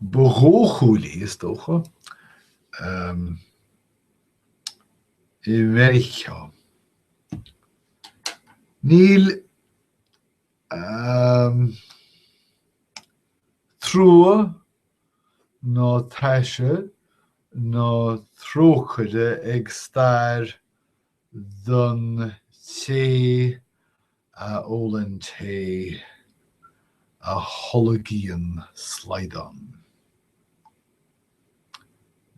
Ba dhóchúil í, is dócha, i Meiriceá. Níl trua ná taise ná trócaire ag stair don té a ólann té a tholgann slaghdán.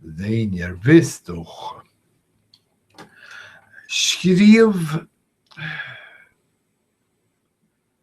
d'éinne ar bith is dócha. Scríobh.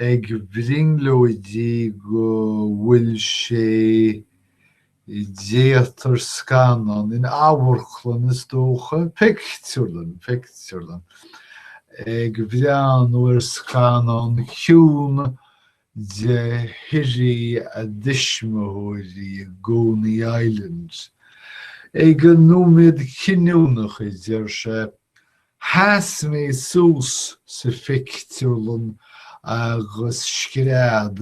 ag brionglóidí go bhfuil sé i dtéatar, scannán, in amharclann, is dócha, pictiúrlann, pictiúrlann, ag breathnú ar scannán ciúin de shuirí a dtuismitheoirí i gConey Island, ag an nóiméad cinniúnach, a deir sé, Sheas mé suas sa phictiúrlann agus scread,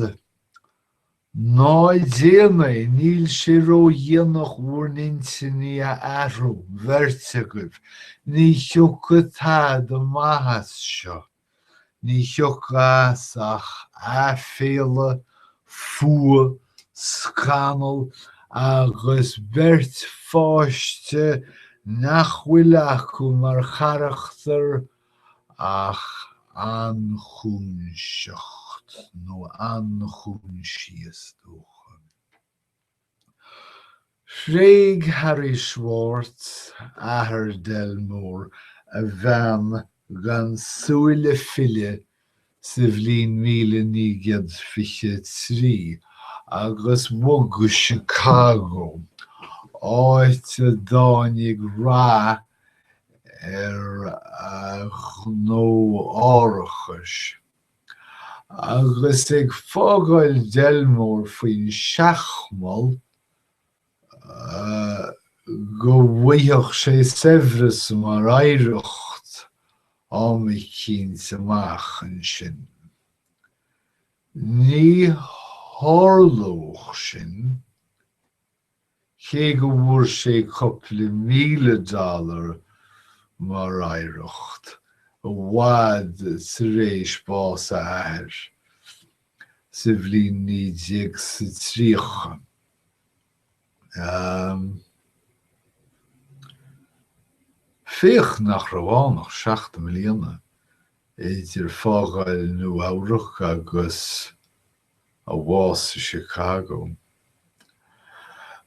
'Ná déanaigí, níl sé ródhéanach bhur n-intinní a athrú, an bheirt agaibh, ní thiocfaidh tada maith as seo! Ní thiocfas ach aiféala, fuath, scannal agus beirt pháiste nach bhfuil acu mar charachtar ach anchúnseacht nó anchúinsíos, is dócha. Thréig Harry Schwartz, athair Delmore, a bhean gan súil le filleadh sa bhliain míle naoi gcéad fiche a trí agus bhog go Chicago, áit a dtáinig rath ar a ghnó árachais. Agus ag fágáil Delmore faoin seachmall, go bhfaigheadh sé saibhreas mar oidhreacht am eicínt amach ansin. Ní tharlódh sin. cé go bhfuair sé cupla míle dollar mar oidhreacht, i bhfad tar éis bás a athair, sa bhliain naoi déag 's a tríocha. Féach nach raibh ann ach seacht mbliana idir fágáil Nua Eabhrac agus. a bhás i Chicago.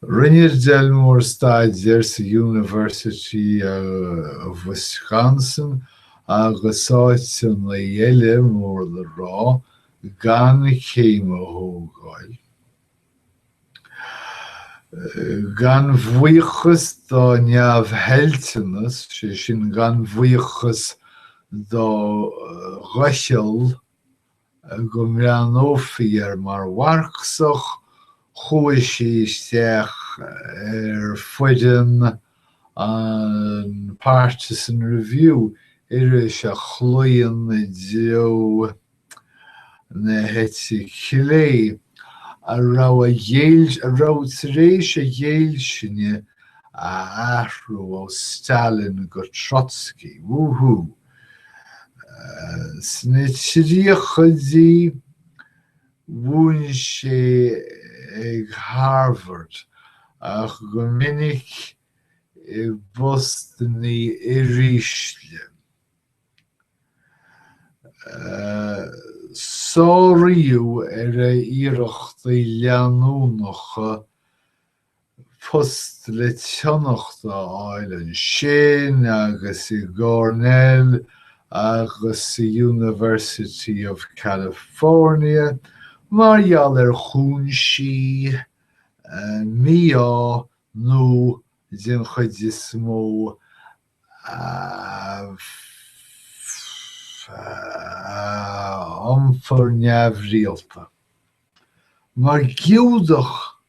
Rinne Delmore staidéar sa University of Wisconsin agus áiteanna eile mór le rá gan céim a thógáil. Gan bhuíochas dá neamhthoilteanas, sé sin gan bhuíochas dá dhoicheall, go mbreathnófaí air mar Mharxach, chuaigh sé isteach ar foireann an Partisan Review, iris a chlaon i dtreo na heite clé, a raibh a ghéill, a raibh tar éis a ghéillsine a athrú ó Stalin go Trotsky. Woo-hoo! Sna tríochaidí mhúin sé ag Harvard ach go minic i bpostanna uirísle. Sáraíodh ar a iarrachtaí leanúnacha post le tionacht a fháil ansin agus i gCornell agus sa University of California mar gheall ar chúinsí mí-ádh nó den chuid is mó iompar neamhrialta. Mar Giúdach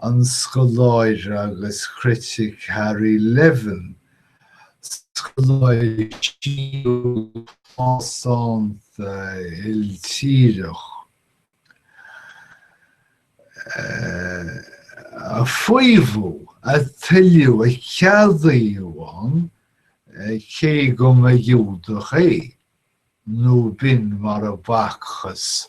an scoláire agus critic Harry Levin, scoláire siúil plásánta iltíreach, a faomhadh, a tuilleadh, a ceadaíodh ann, cé go mba Ghiúdach é, nó b'in mar ab fhacthas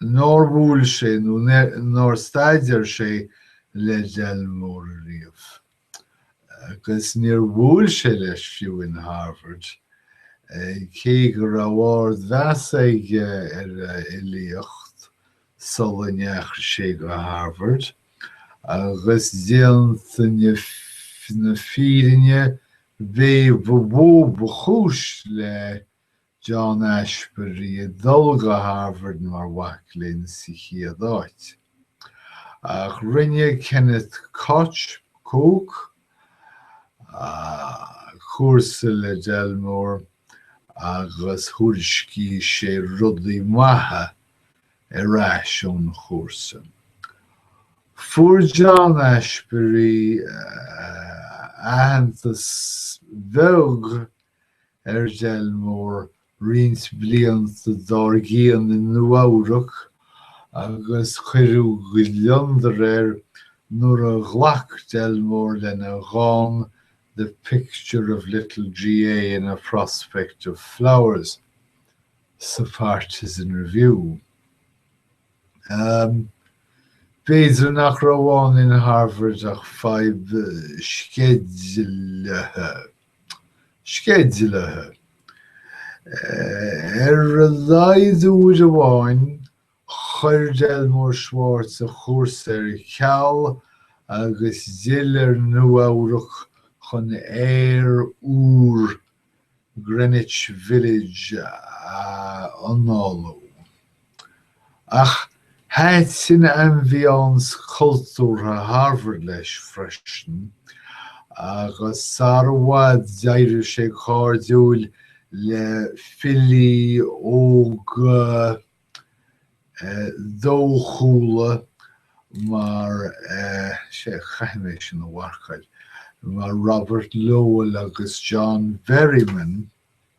nár bhuail sé nó nár staidéar sé le Delmore riamh. Agus níor bhuail sé leis fiú in Harvard, cé go raibh ard mheas aige ar a fhilíocht sula ndeachaigh sé go Harvard, agus déanta na fírinne b'é ba mhó ba chúis le John Ashbery ag dul go Harvard mar mhac léinn sa chéad áit. Ach rinne Kenneth Koch, Koch? cúrsa le Delmore agus thuairiscigh sé rudaí maithe ar ais ón chúrsa. Fuair John Ashbery aitheantas beag ar Delmore roinnt blianta dár gcionn i Nua-Eabhrac agus cuireadh gliondar air nuair a ghlac Delmore lena dhán 'The Picture of Little GA in a Prospect of Flowers' sa Partisan Review. B'fhéidir nach raibh ann in Harvard ach fadhb sceidealaithe, ar a laghad uair amháin, chuir Delmore Schwartz a chúrsa ar ceal agus d'fhill ar Nua-Eabhrac chun aer úr Greenwich Village a análú. Ach thaitin ambiance cultúrtha Harvard leis freisin agus sara i bhfad d'éirigh sé cairdiúil le filí óga dóchúla mar, sea, caithfidh mé sin a mharcáil, mar Robert Lowell agus John Berryman.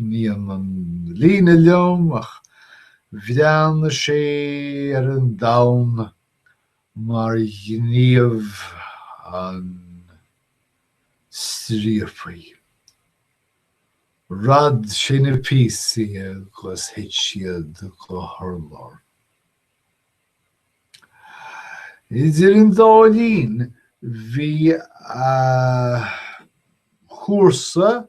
Ní hionann an líne liom ach bhreathnaigh sé ar an domhan mar ghníomh an striapaí. Rad sé na píosaí agus thit siad go hurlár. Idir an dá linn bhí a chúrsa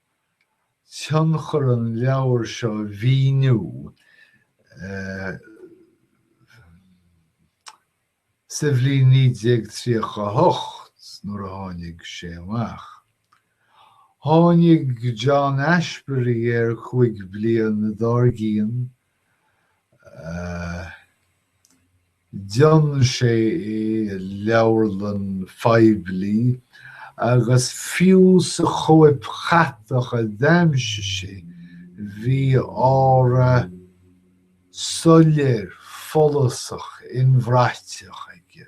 tionchar an leabhair seo a mhíniú sa bhliain 1938 nuair a tháinig sé amach, tháinig John Ashbery air cúig bliana dár gcionn D'fhionn sé é i leabharlann phoiblí agus fiú sa chóip chatach a d'aimsigh sé bhí aura soiléir follasach inbhraite aige.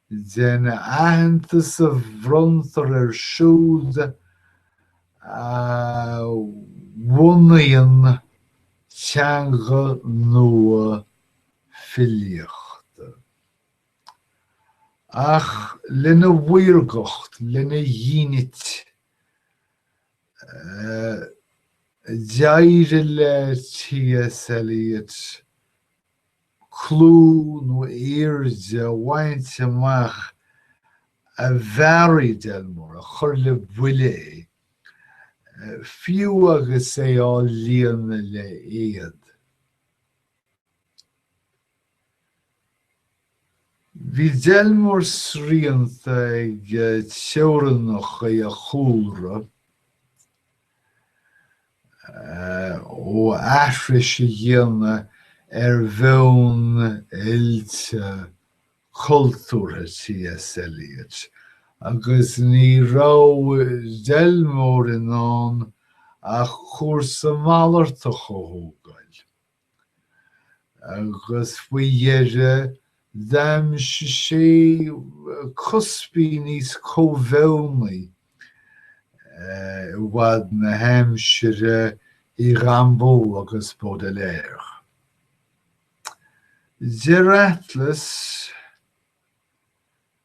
den aitheantas a bhronntar ar siúd a bhunaíonn teanga nua filíochta. Ach lena mhaorgacht, lena dhínit, d'éirigh le T.S. Eliot clú nó airde a bhaint amach a mhearaigh Delmore, a chuir le buile é, fiú agus é á líonadh le éad. Bhí Delmore srianta ag teorannacha a chúlra. ó aithris a dhéanamh ar mheon oilte cultúrtha T.S. Eliot, agus ní raibh Delmore in ann ach cúrsa malartach a thógáil. agus faoi dheireadh d'aimsigh sé cuspaí níos comhbheoga i bhfad na haimsire i Rimbaud agus Baudelaire. Deir Atlas.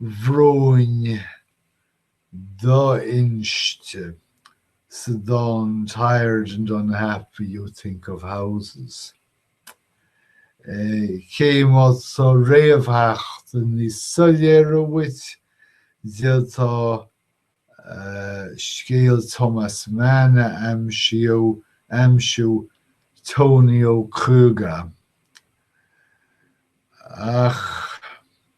bhróin do-inste sa dán 'Tired and Unhappy You Think of Houses'. Cé má tá réamhtheachtaí níos soiléire uait, d'fhéadfá scéal Thomas Mann a aimsiú, aimsiú Tonio Kröger. Ach.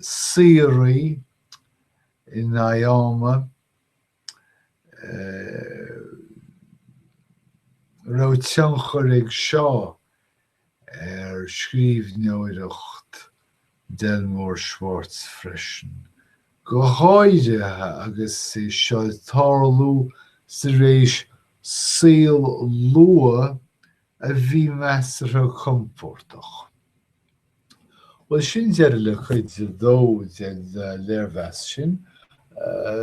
síoraí. N'fheadar an raibh tionchar ag seo ar scríbhneoireacht Delmore Schwartz freisin, go háirithe agus é seo ag tarlú tar éis saol luath a bhí measartha compordach. Bhuel, sin deireadh le cuid a dó den léirmheas sin.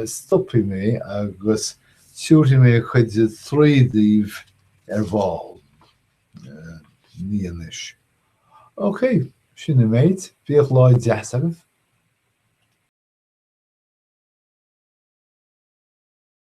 Stopfaidh mé agus tiúrfaidh mé cuid a trí daoibh ar ball. ní anois. OK, sin an méid. Bíodh lá deas agaibh.